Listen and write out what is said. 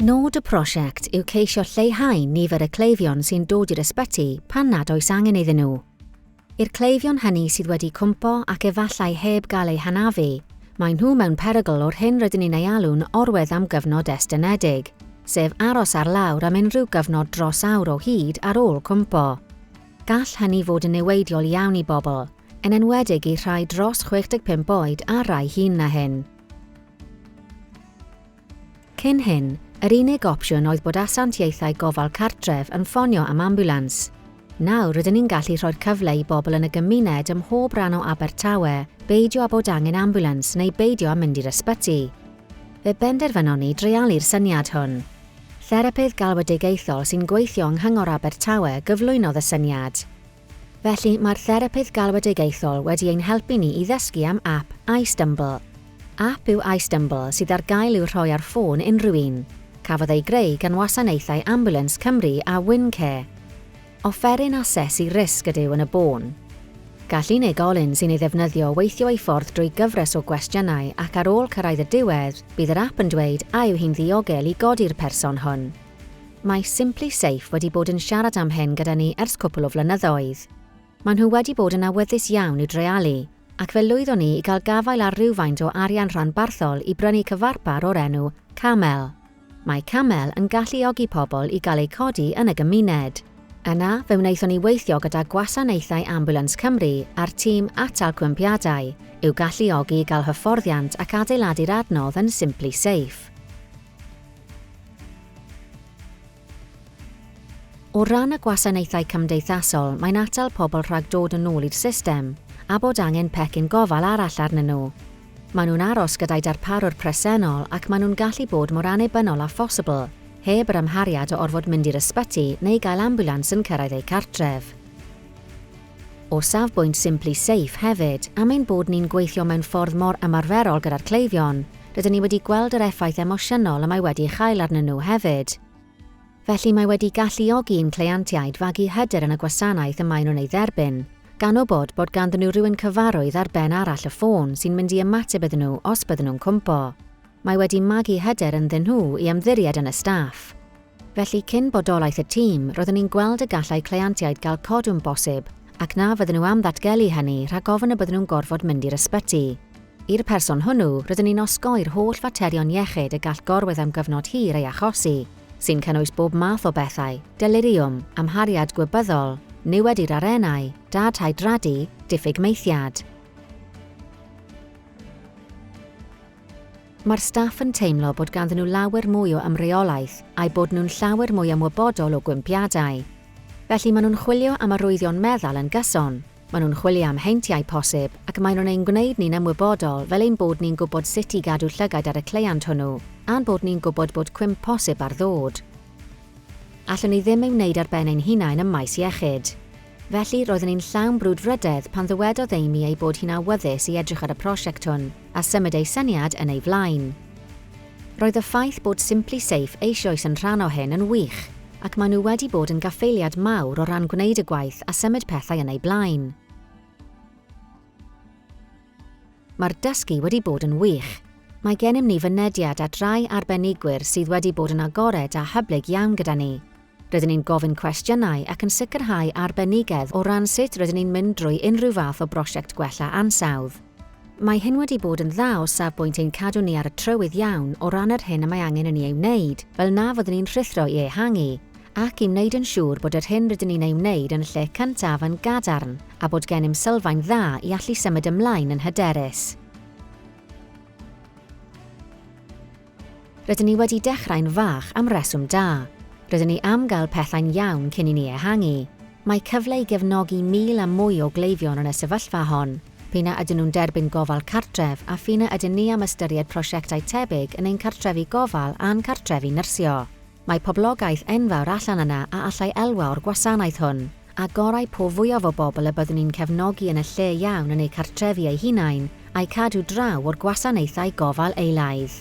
Nod y prosiect yw ceisio lleihau nifer y cleifion sy'n dod i'r ysbyty pan nad oes angen iddyn nhw. I'r cleifion hynny sydd wedi cwmpo ac efallai heb gael eu hanafu, maen nhw mewn perygl o'r hyn rydyn ni'n ei alw'n orwedd am gyfnod estynedig, sef aros ar lawr am unrhyw gyfnod dros awr o hyd ar ôl cwmpo. Gall hynny fod yn niweidiol iawn i bobl, yn enwedig i rhai dros 65 oed a rai hŷn na hyn. Cyn hyn, yr unig opsiwn oedd bod asiantiaethau gofal cartref yn ffonio am ambiwlans. Nawr rydyn ni'n gallu rhoi'r cyfle i bobl yn y gymuned ym mhob rhan o Abertawe beidio â bod angen ambiwlans neu beidio â mynd i'r ysbyty. Fe benderfynon ni dreialu'r syniad hwn. Therapydd galwedigaethol sy'n gweithio yng Nghyngor Abertawe gyflwynodd y syniad. Felly, mae'r therapydd galwedigaethol wedi ein helpu ni i ddysgu am ap iStumble. Ap yw iStumble sydd ar gael i'w rhoi ar ffôn unrhyw un. Cafodd ei greu gan wasanaethau Ambulance Cymru a Win Care. Offeryn asesu risg ydyw yn y bôn. Gall unigolyn sy'n ei ddefnyddio weithio ei ffordd drwy gyfres o gwestiynau ac ar ôl cyrraedd y diwedd, bydd yr ap yn dweud a yw hi'n ddiogel i godi'r person hwn. Mae SimpliSafe wedi bod yn siarad am hyn gyda ni ers cwpl o flynyddoedd. Maen nhw wedi bod yn awyddus iawn i'w dreialu, ac fe lwyddon ni i gael gafael ar rywfaint o arian rhanbarthol i brynu cyfarpar o'r enw Camel. Mae Camel yn galluogi pobl i gael eu codi yn y gymuned. Yna, fe wnaethon ni weithio gyda Gwasanaethau Ambiwlans Cymru a'r tîm Atal Cwympiadau, i'w galluogi i gael hyfforddiant ac adeiladu'r adnodd yn SimpliSafe. O ran y gwasanaethau cymdeithasol, mae'n atal pobl rhag dod yn ôl i'r system, a bod angen pecyn gofal arall arnyn nhw. Maen nhw'n aros gyda'u darparwr presennol ac maen nhw'n gallu bod mor annibynnol â phosibl, heb yr amhariad o orfod mynd i'r ysbyty neu gael ambiwlans yn cyrraedd eu cartref. O safbwynt Simply Safe hefyd, am ein bod ni'n gweithio mewn ffordd mor ymarferol gyda'r cleifion, rydyn ni wedi gweld yr effaith emosiynol y mae wedi ei chael arnyn nhw hefyd. Felly mae wedi galluogi i'n cleientiaid fagu hyder yn y gwasanaeth y maen nhw'n ei dderbyn, gan wybod bod ganddyn nhw rywun cyfarwydd ar ben arall y ffôn sy'n mynd i ymateb iddyn nhw os bydden nhw'n cwmpo. Mae wedi magu hyder ynddyn nhw i ymddiried yn y staff. Felly, cyn bodolaeth y tîm, roeddwn i'n gweld y gallai cleientiaid gael codwm bosib ac na fydden nhw am ddatgelu hynny rhag ofn y bydden nhw'n gorfod mynd i'r ysbyty. I'r person hwnnw, rydyn ni'n osgoi'r holl faterion iechyd y gall gorwedd am gyfnod hir ei achosi, sy'n cynnwys bob math o bethau, deliriwm, amhariad gwybyddol, niwed i'r arennau, dad hydradu, diffyg maethiad. Mae'r staff yn teimlo bod ganddyn nhw lawer mwy o ymreolaeth a'u bod nhw'n llawer mwy ymwybodol o gwympiadau. Felly maen nhw'n chwilio am arwyddion meddal yn gyson, Maen nhw'n chwilio am heintiau posib, ac maen nhw'n ein gwneud ni'n ymwybodol fel ein bod ni'n gwybod sut i gadw llygaid ar y cleiant hwnnw, a'n bod ni'n gwybod bod cwymp posib ar ddod. Allwn ni ddim ei wneud ar ben ein hunain ym maes iechyd. Felly, roeddwn i'n llawn brwdfrydedd pan ddywedodd Amy ei bod hi'n awyddus i edrych ar y prosiect hwn, a symud ei syniad yn ei flaen. Roedd y ffaith bod SimpliSafe eisioes yn rhan o hyn yn wych, ac maen nhw wedi bod yn gaffaeliad mawr o ran gwneud y gwaith a symud pethau yn eu blaen. Mae'r dysgu wedi bod yn wych. Mae gennym ni fynediad at rai arbenigwyr sydd wedi bod yn agored a hyblyg iawn gyda ni. Rydyn ni'n gofyn cwestiynau ac yn sicrhau arbenigedd o ran sut rydyn ni'n mynd drwy unrhyw fath o brosiect gwella ansawdd. Mae hyn wedi bod yn dda o safbwynt ein cadw ni ar y trywydd iawn o ran yr hyn y mae angen i ni ei wneud, fel na fyddwn ni'n rhuthro i ehangu, ac i wneud yn siŵr bod yr hyn rydyn ni'n ei wneud yn y lle cyntaf yn gadarn a bod gennym sylfaen dda i allu symud ymlaen yn hyderus. Rydyn ni wedi dechrau'n fach am reswm da. Rydyn ni am gael pethau'n iawn cyn i ni ehangu. Mae cyfle i gefnogi 1,000 a mwy o gleifion yn y sefyllfa hon, p'un a ydyn nhw'n derbyn gofal cartref a ph'un a ydyn ni am ystyried prosiectau tebyg yn ein cartrefi gofal a'n cartrefi nyrsio. Mae poblogaeth enfawr allan yna a allai elwa o'r gwasanaeth hwn, a gorau po fwyaf o bobl y byddwn ni'n cefnogi yn y lle iawn yn eu cartrefi eu hunain, a'u cadw draw o'r gwasanaethau gofal eilaidd.